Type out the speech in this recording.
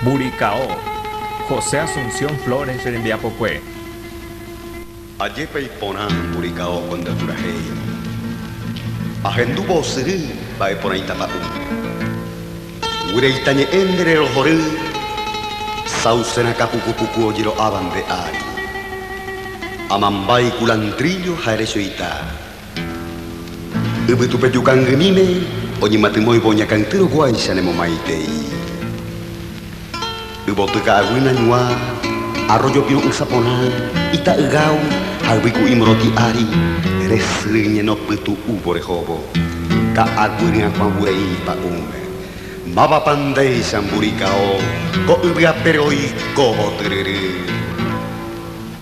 Burikao, José Asunción Flores rembiapokue. Ajépa iporã Burikao cuenta purahéi. Ahendúvo osyry mba'e porãita pa'u. Guireita ñe'ẽ nde rerohory sauce rakã puku puku ojero'áva nde ári. Amambái culantrillo ha erechoita. Yvytupejukangy'míme oñematymóivo oñakãity roguáicha nemomaitei. Yvoty ka'aguy nañuã, arrójo piru'ỹsa porã, ita'ygao ha yvyku'i morotĩ ári, resy ñenopytu'úvo rehóvo, ka'aguy ryakuãvureĩ pa'ũme. Mávapa ndéicha mburikao ko yvyapére oikóvo tyryry.